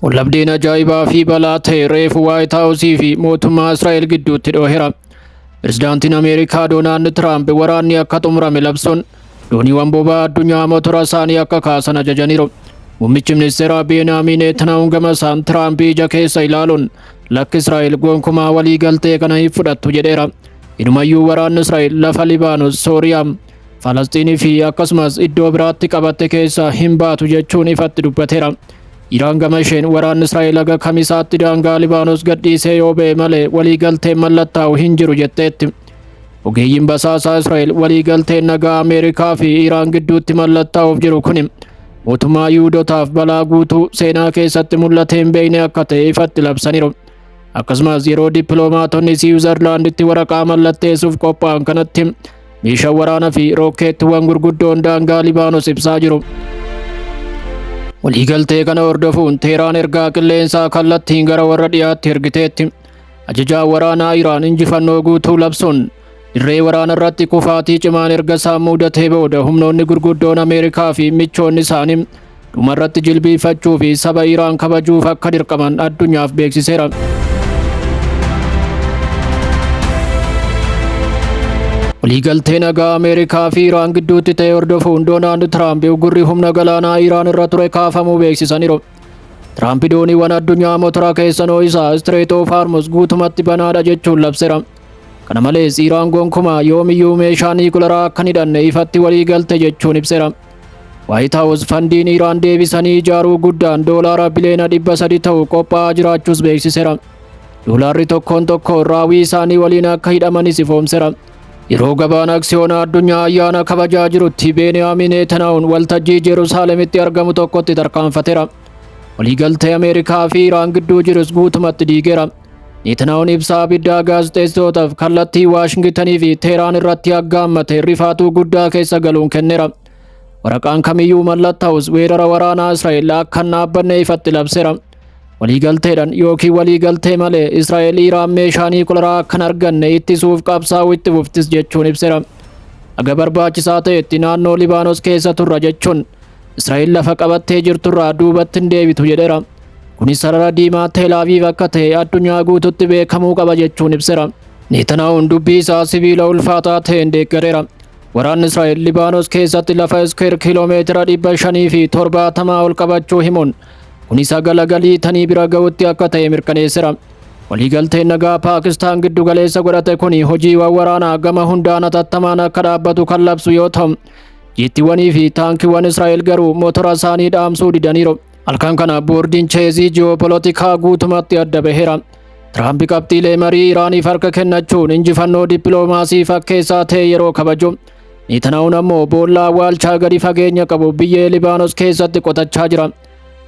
Wallabdeen ajaa'ibaa fi balaa ta'e reefu Waayit Haawusii fi mootummaa Israa'el gidduutti dhoohera. Pirezidaantiin Ameerikaa Doonaald Tiraamp waraanni akka xumurame labsuun dooniiwwan boba'aa addunyaa motora isaanii akka kaasan ajajaniiru. Muummichi ministeeraa Beenaamin Neetanaahun gama isaan Tiraamp ija keessa ilaaluun lakki Israa'el gonkumaa walii galtee kana hin fudhattu jedheera. Inumayyuu waraanni Israa'el lafa Libaanos, Sooriyaa, Falasxiinii fi akkasumas iddoo biraatti qabatte keessaa hin baatu jechuun ifatti dubbateera. Iraan gama isheen waraanni Israa'el haga kamisaatti daangaa Libaanos gadhiisee yoo ba'e malee waliigalteen mallattaa'u hin jiru jetteetti. Ogeeyyiin basaasaa Israa'el waliigalteen nagaa Ameerikaa fi Iraan gidduutti mallattaa'uuf jiru kuni mootummaa Yihudotaaf balaa guutuu seenaa keessatti mul'atee hin beekne akka ta'e ifatti labsaniiru. Akkasumas yeroo dippiloomaatonni Siwiizerlaanditti waraqaa mallatteessuuf qophaa'an kanatti Meeshaan waraanaa fi rookkeettiwwan gurguddoon daangaa Libaanos ibsaa jiru. Waliigaltee kana hordofuun Teeraan ergaa qilleensaa kallattiin gara warra dhiyaatti ergiteetti. Ajajaan waraanaa Iraan injifannoo guutuu labsuun dirree waraana irratti kufaatii cimaan erga isaan muudatee booda humnoonni gurguddoon Ameerikaa fi michoonni isaanii Dhumarratti jilbiifachuu fi saba Iraan kabajuuf akka dirqaman addunyaaf beeksiseera. Waliigaltee nagaa Ameerikaa fi Iraan gidduutti ta'e hordofuun Doonaald Tiraamp uggurri humna galaanaa Iraan irra ture kaafamuu beeksisaniiru. Tiraamp dooniiwwan addunyaa motora keessan ho'isaa Istireet oof Haarmus guutumatti banaadha jechuun labseera. Kana malees Iraan gonkumaa yoomiyyuu meeshaa niikularaa akka hin hidhanne ifatti waliigalte jechuun ibseera. Waayit Haawus fandiin Iraan deebisanii ijaaruu guddaan doolaara biliyoona dhibba sadi ta'u qophaa'aa jiraachuus beeksiseera. Doolaarri tokkoon tokko raawwii isaanii waliin akka hidhamanis ifoomseera. Yeroo gabaan aksiyoona addunyaa ayyaana kabajaa jirutti Beeniyaamiin Neetanaa'uun waltajjii Jerusaaleemitti argamu tokkotti tarkaanfateera. Waliigaltee Ameerikaa fi Iraan gidduu jirus guutumatti diigeera. Neetanaa'oon ibsa abiddaa gaazexeessitootaaf kallattii Waashingitanii fi Teeraan irratti aggaammate rifaatuu guddaa keessa galuun kennera. Waraqaan kamiyyuu mallattaa'us weerara waraanaa Israa'el akka hin dhaabbanne ifatti labsera. Waliigalteedhaan yookiin waliigaltee malee Israa'el Iraan meeshaa niikularaa akka hin arganne ittisuuf qabsaa'uu itti fuftis jechuun ibsera. Haga barbaachisaa ta'etti naannoo Libaanos keessa turra jechuun Israa'el lafa qabattee jirturraa duubatti hin deebitu jedhera. Kunis sarara diimaa Tel Aviv akka ta'e addunyaa guututti beekamuu qaba jechuun ibsera. Neetanaa'uun dubbii isaa sibiila ulfaataa ta'een deeggareera. Waraanni Israa'el Libaanos keessatti lafa iskeer kiiloomeetira dhibba shanii fi torbaatamaa ol qabachuu himuun kunis hagala galii tanii bira ga'utti akka ta'e mirkaneessera. Waliigalteen nagaa Paakistaan giddu galeessa godhate kun hojiiwwan waraanaa gama hundaan atattamaan akka dhaabbatu kan labsu yoo ta'u, jeettiiwwanii fi taankiiwwan Israa'el garuu motora isaanii dhaamsuu didaniiru. Halkan kana boordiin cheezii ji'oopolootikaa guutumatti adda baheera. Tiraampi qabxiilee marii Iraaniif harka kennachuun injifannoo dippiloomaasii fakkeessaa ta'e yeroo kabaju. Neetanaa'uun ammoo boolla awwaalchaa gadi fageenya qabu biyyee Libaanos keessatti qotachaa jira.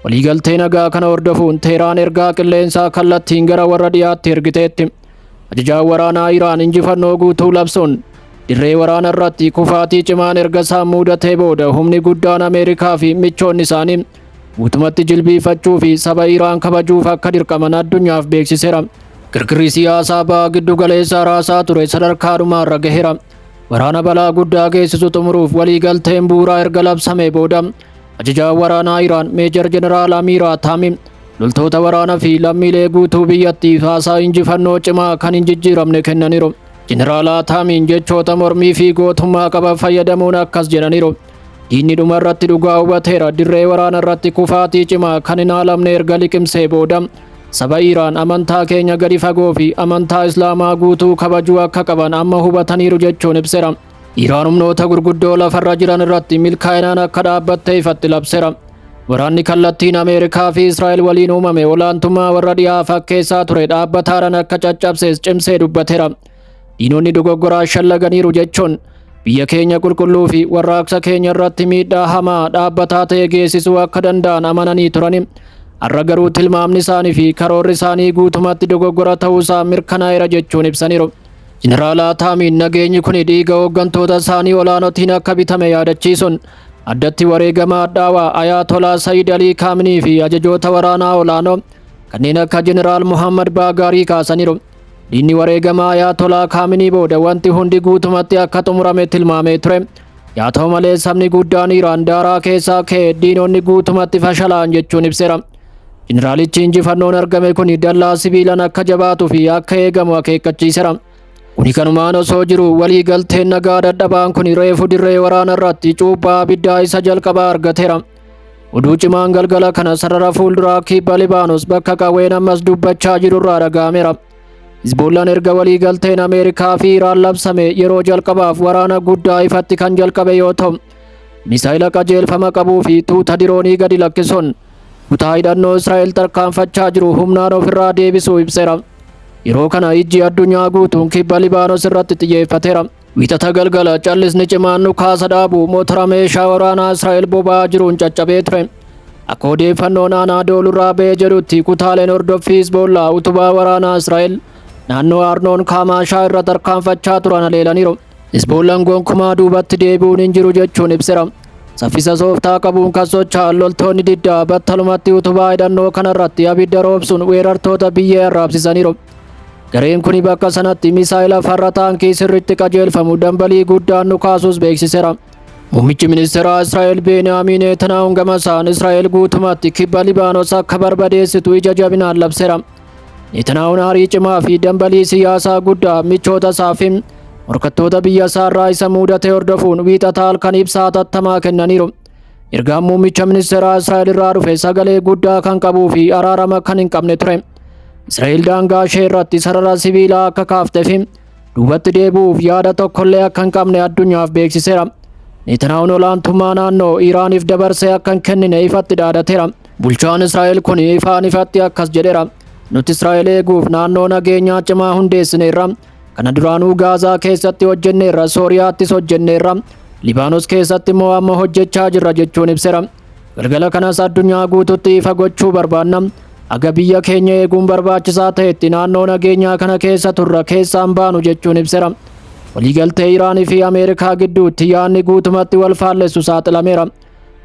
Waliigaltee nagaa kana hordofuun Teeraan ergaa qilleensaa kallattiin gara warra dhiyaatti ergiteetti. Ajajaan waraanaa Iraan injifannoo guutuu labsuun dirree waraana irratti kufaatii cimaan erga isaan muudatee booda humni guddaan Ameerikaa fi michoonni isaanii guutumatti jilbiifachuu fi saba Iraan kabajuuf akka dirqaman addunyaaf beeksiseera. Kirkirri siyaasaa baha giddu galeessaa raasaa ture sadarkaa dhumaarra gaheera. Waraana balaa guddaa geessisu xumuruuf waliigalteen bu'uuraa erga labsamee booda ajajaan waraanaa Iraan Meejar Jeneraal Amiiraa Taamim Loltoota waraanaa fi lammiilee guutuu biyyattiif haasaa injifannoo cimaa kan hin jijjiiramne kennaniiru. Jeneraal Ataamiin jechoota mormii fi gootummaa qaban fayyadamuun akkas jedhaniiru. Diinni dhuma irratti dhugaa hubateera dirree waraana irratti kufaatii cimaa kan hin haalamne erga liqimsee booda saba Iiraan amantaa keenya gadi fagoo fi amantaa Islaamaa guutuu kabajuu akka qaban amma hubataniiru jechuun ibsera. Iraan humnoota gurguddoo lafarra jiran irratti milkaa'inaan akka dhaabbatte ifatti labseera. Waraanni kallattiin Ameerikaa fi Israa'el waliin uumame olaantummaa warra dhihaa fakkeessaa ture dhaabbataadhaan akka caccabsees cimsee dubbateera. Diinonni dogoggoraa shallaganiiru jechuun biyya keenya qulqulluu fi warraaqsa keenya irratti miidhaa hamaa dhaabbataa ta'e geessisuu akka danda'an amananii turani. Har'a garuu tilmaamni isaanii fi karoorri isaanii guutumatti dogoggora ta'uusaa mirkanaa'eera jechuun ibsaniiru. Jeneraal Ataamiin nageenyi kun dhiiga hooggantoota isaanii olaanootiin akka bitame yaadachiisuun addatti wareegama hadhaawaa Ayaatolaa Sayid Alii Kaaminii fi ajajoota waraanaa olaanoo kanneen akka Jeneraal Muhammad Baagaarii kaasaniiru. Diinni wareegama Ayaatolaa Kaaminii booda wanti hundi guutumatti akka xumurame tilmaamee ture. Yaa ta'u malee sabni guddaan Iraan daaraa keessaa ka'e diinonni guutumatti fashalaan jechuun ibseera. Jeneraalichi injifannoon argame kun dallaa sibiilaan akka jabaatuu fi akka eegamu akeekkachiisera. Kuni kanumaan osoo jiru walii galteen nagaa dadhabaan kun reefu dirree waraana irratti cuuphaa abiddaa isa jalqabaa argateera. Oduu cimaan galgala kana sarara fuulduraa kibba Libaanos bakka qawween ammas dubbachaa jiru irraa dhaga'ameera. Hizboollaan erga walii galteen Ameerikaa fi Iraan labsame yeroo jalqabaaf waraana guddaa ifatti kan jalqabe yoo ta'u, misaayila qajeelfama qabuu fi tuuta diroonii gadi lakkisuun Kutaa hidhannoo Israa'el tarkaanfachaa jiru humnaan ofirraa deebisuu ibseera. Yeroo kana ijji addunyaa guutuun kibba Libaanos irratti xiyyeeffateera. Wiixata galgala callisni cimaan dhukaasa dhaabu motora meeshaa waraanaa Israa'el boba'aa jiruun caccabee ture. Akka odeeffannoon aanaa doolurraa ba'ee jedhutti kutaaleen hordoffii Hizboollaa utubaa waraanaa Israa'el naannoo Arnoon Kaamaashaa irra tarkaanfachaa turan haleelaniiru. Hizboollaan gonkumaa duubatti deebi'uun hin jiru jechuun ibsera. Saffisa sooftaa qabuun kan socho'an loltoonni diddaa battalumatti utubaa hidhannoo kanarratti abidda roobsuun weerartoota biyyee arraabsisaniiru. Gareen kuni bakka sanatti misaa'ila farra taankii sirriitti qajeelfamu dambalii guddaan nu kaasuus beeksiseera. Muummichi ministeeraa Israa'el Beeniyaamiin Neetanaahun gamasaan Israa'el guutumatti kibba Libaanos akka barbadeessitu ija jabinaan labseera. Netanaahuun aarii cimaa fi dambalii siyaasaa guddaa michoota isaa fi morkattoota biyya isaa irraa isa muudate hordofuun wiixataa halkan ibsaa hatattamaa kennaniiru. Ergaan muummicha ministeeraa Israa'el irraa dhufe sagalee guddaa kan qabuu fi araarama kan hin qabne ture. Israa'el daangaa ishee irratti sarara sibiilaa akka kaaftee fi duubatti deebi'uuf yaada tokkollee akka hin qabne addunyaaf beeksiseera. Netanaahuun olaantummaa naannoo Iraaniif dabarsee akka hin kennine ifatti dhaadateera. Bulchaan Israa'el kun ifaan ifatti akkas jedheera. Nuti Israa'el eeguuf naannoo nageenyaa cimaa hundeessineerra. Kana duraanuu Gaazaa keessatti hojjenneerra, Sooriyaattis hojjenneerra. Libaanos keessatti immoo amma hojjechaa jirra jechuun ibseera. Galgala kanas addunyaa guututti ifa gochuu barbaanna. Aga biyya keenya eeguun barbaachisaa ta'etti naannoo nageenyaa kana keessa turra keessaan baanu jechuun ibseera. Waliigaltee Iraanii fi Ameerikaa gidduutti yaadni guutumatti wal faallessu saaxilameera.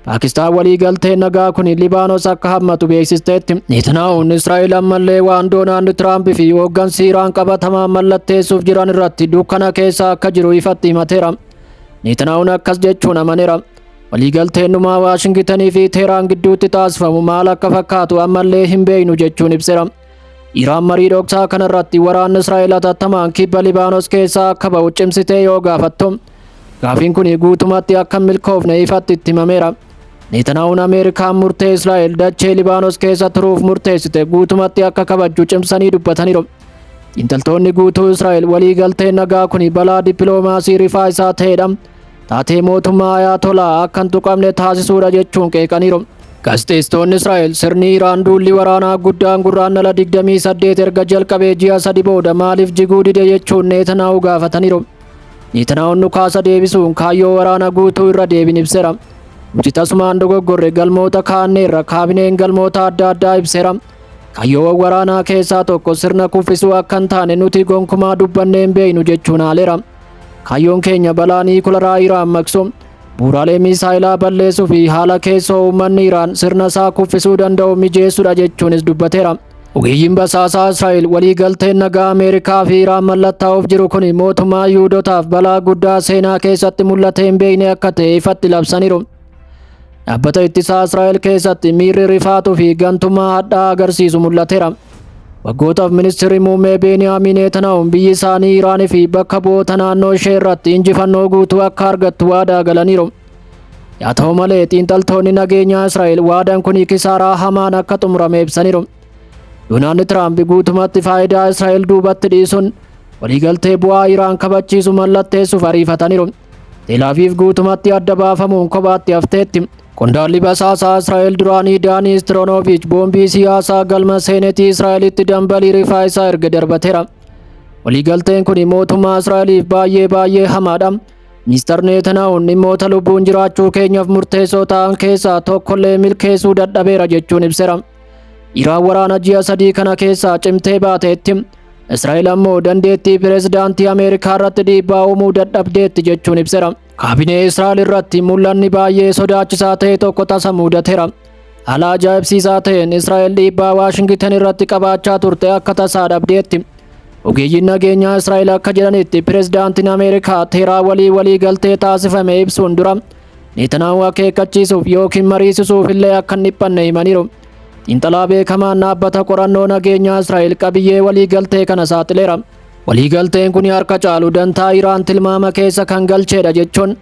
Paakistaan waliigaltee nagaa kun Libaanos akka hammatu beeksisteetti. Netanaahuun Israa'el ammallee waan Doonaald Tiraamp fi hooggansi Iraan qabatamaan mallatteessuuf jiran irratti dukkana keessa akka jiru ifatti himateera. Netanaahuun akkas jechuun amaneera. Waliigalteen dhumaa Waashingitanii fi Teeraan gidduutti taasifamu maal akka fakkaatu ammallee hin beeknu jechuun ibseera. Iraan marii dhoksaa kanarratti waraanni Israa'el hatattamaan kibba Libaanos keessaa akka ba'u cimsitee yoo gaafattu Gaafiin kun guutumatti akka hin milkoofne ifatti itti himameera. Neetanaa'uun Ameerikaan murtee Israa'el dachee Libaanos keessa turuuf murteessite guutumatti akka kabajju cimsanii dubbataniiru. Xiinxaltoonni guutuu Israa'el waliigalteen nagaa kun balaa dippiloomaasii rifaa isaa ta'edha. Taatee mootummaa Ayaatolaa akka hin tuqamne taasisuudha jechuun qeeqaniiru. Gaazexeessitoonni Israa'el sirni Iraan duulli waraanaa guddaan gurraandhala 28 erga jalqabee ji'a sadi booda maaliif jiguu dide jechuun Neetanaa'uu gaafataniiru. Neetanaa'oon dhukaasa deebisuun kaayyoo waraana guutuu irra deebiin ibseera. Nuti tasumaan dogoggorre galmoota kaanneerra kaabineen galmoota adda addaa ibseera. Kaayyoowwan waraanaa keessaa tokko sirna kuffisuu akka hin taane nuti gonkumaa dubbannee hin beeknu jechuun haaleera. Kaayyoon keenya balaa niikularaa Iraan maqsu, bu'uuraalee miisaayilaa balleessuu fi haala keessoo uummanni Iraan sirna isaa kuffisuu danda'u mijeessudha jechuunis dubbateera. Ogeeyyiin basaasaa Israa'el walii galteen nagaa Ameerikaa fi Iraan mallattaa'uuf jiru kun mootummaa Yihudotaaf balaa guddaa seenaa keessatti mul'atee hin beekne akka ta'e ifatti labsaniiru. Dhaabbata ittisaa Israa'el keessatti miirri rifaatuu fi gantummaa hadhaa agarsiisu mul'ateera. Waggootaaf ministirri muummee Beeniyaamiin Neetanaa'uun biyyi isaanii Iraanii fi bakka bu'oota naannoo ishee irratti injifannoo guutuu akka argattu waadaa galaniiru. Yaa ta'u malee xiinxaltoonni nageenyaa Israa'el waadaan kun kisaaraa hamaan akka xumurame ibsaniiru. Doonaald Tiraamp guutumatti faayidaa Israa'el duubatti dhiisuun waliigaltee bu'aa Iraan kabachiisu mallatteessuuf ariifataniiru. Teelaaviif guutumatti adda baafamuun kophaatti hafteetti. Qondaalli basaasaa Israa'el duraanii Daanii Istiroonoviich boombii siyaasaa galma seenetii Israa'elitti dambalii rifaa isaa erga darbateera. Waliigalteen kun mootummaa Israa'eliif baay'ee baay'ee hamaadha. Mister Neetanaa'uun dhimmoota lubbuun jiraachuu keenyaaf murteessoo ta'an keessaa tokkollee milkeessuu dadhabeera jechuun ibsera. Iraan waraana ji'a sadii kana keessaa cimtee baateetti. Israa'el ammoo dandeettii pireezidaantii Ameerikaa irratti dhiibbaa uumuu dadhabdeetti jechuun ibsera. Kaabinee Israa'el irratti mul'anni baay'ee sodaachisaa ta'e tokko tasa muudateera. Haala ajaa'ibsiisaa ta'een Israa'el dhiibbaa Waashingitan irratti qabaachaa turte akka tasaa dhabdeetti. Ogeeyyiin nageenyaa Israa'el akka jedhanitti pirezidaantiin Ameerikaa teeraa walii walii galtee taasifame ibsuun dura Netanaahu akeekkachiisuuf yookiin mariisisuuf illee akka hin dhiphanne himaniiru. Xiinxalaa beekamaan dhaabbata qorannoo nageenyaa Israa'el qabiyyee walii galtee kana saaxileera. Waliigalteen kun harka caalu dantaa Iraan tilmaama keessa kan galcheedha jechuun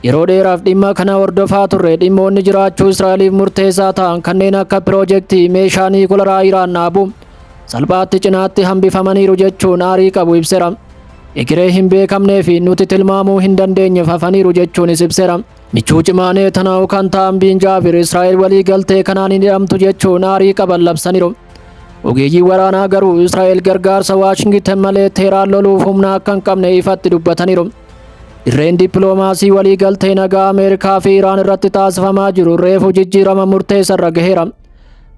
yeroo dheeraaf dhimma kana hordofaa turre dhimmoonni jiraachuu Israa'eliif murteessaa ta'an kanneen akka piroojeektii meeshaa niikularaa Iraan dhaabu salphaatti cinaatti hambifamaniiru jechuun aarii qabu ibsera. Egeree hin beekamnee fi nuti tilmaamuu hin dandeenyeef hafaniiru jechuunis ibsera. Michuu cimaa Neetanaa'u kan ta'an Biin Jaabir Israa'el waliigaltee kanaan hin hidhamtu jechuun aarii qaban labsaniiru. Ogeeyyiin waraanaa garuu Israa'el gargaarsa Waashingitan malee Teeraan loluuf humna akka hin qabne ifatti dubbataniiru. Dirreen dippiloomaasii waliigaltee nagaa Ameerikaa fi Iraan irratti taasifamaa jiru reefu jijjiirama murteessarra gaheera.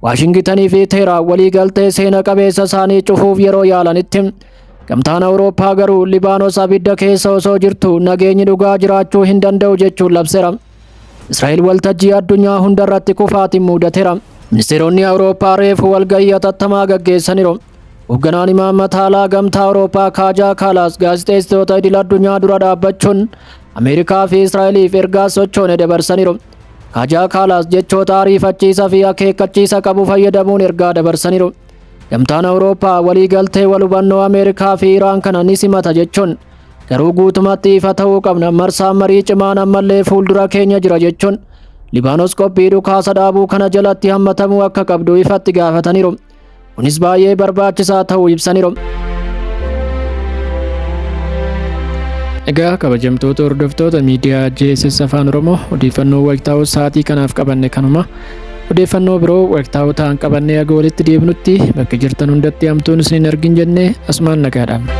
Waashingitanii fi Teeraan waliigaltee seena qabeessa isaanii cufuuf yeroo yaalanitti Gamtaan Awurooppaa garuu Libaanos abidda keessa osoo jirtu nageenyi dhugaa jiraachuu hin danda'u jechuun labseera. Israa'el waltajjii addunyaa hundarratti kufaatiin muudatera. Ministeeronni Awurooppaa reefu walgahii hatattamaa gaggeessaniiru. Hoogganaan imaammata alaa gamtaa Awurooppaa Kaajaa Kaalaas gaazexeessitoota idil addunyaa dura dhaabbachuun Ameerikaa fi Israa'eliif ergaa sochoone dabarsaniiru. Kaajaa Kaalaas jechoota ariifachiisa fi akeekkachiisa qabu fayyadamuun ergaa dabarsaniiru. Gamtaan Awurooppaa waliigaltee wal hubannoo Ameerikaa fi Iraan kana ni simata jechuun Garuu guutumatti ifa ta'uu qabna marsaan marii cimaan ammallee fuuldura keenya jira jechuun Libaanos qophii dhukaasa dhaabuu kana jalatti hammatamuu akka qabdu ifatti gaafataniiru. Kunis baay'ee barbaachisaa ta'uu ibsaniiru. Egaa kabajamtoota hordoftoota miidiyaa JSS Afaan Oromoo odeeffannoo wayitaawoo sa'aatii kanaaf qabanne kanuma. Odeeffannoo biroo waqtaa'oo ta'an qabannee haga walitti deebinutti bakka jirtan hundatti hamtuun isin hin argin jennee asumaan nagaa dhaabna.